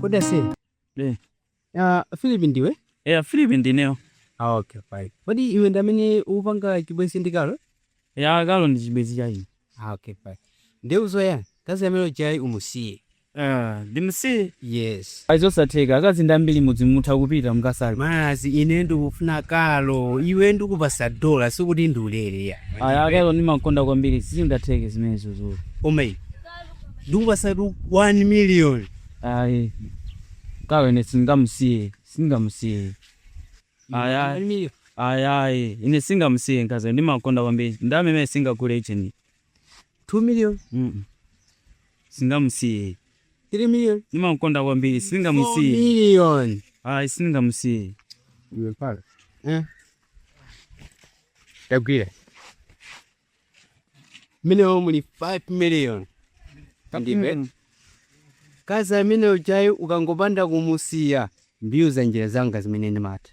Kodi ase? Eh. Ah, Philip ndiwe? eya philip ndineyo Ah, okay, fine. Kodi iwe ndi amene upanga chibwenzi ndi Carol? eya Carol ndi chibwenzi cha ine Ah, okay, fine. Ndiye uzoya, mkazi amene uja umusiye. Eh, ndimsiye Yes. a zosatheka akazi ndi ambiri mudzi mutha kupita mukasake Ah ine ndikufuna Carol, iwe ndikupatsa dola sikuti ndi ulere ayi. ayi Carol ndimamukonda kwambiri sizingatheke zimenezo zoona Omei. ndikupatsatu 1 million. Ayi Carol ine sindingamusiye sindingamusiye ayi ayi ayi ayi ine sindingamusiye mkazi ndimamukonda kwambiri ndalama imeneyo singagule ujeni 2 million mm sindingamusiye 3 million ndimamukonda kwambiri 4 sindingamusiye million ayi sindingamusiye Eh. Tagwira. mmenemo muli 5 million ndibe Mm. mkazi amene ujayi ukangopanda kumusiya ndiyuza njira zanga zimene ndimatha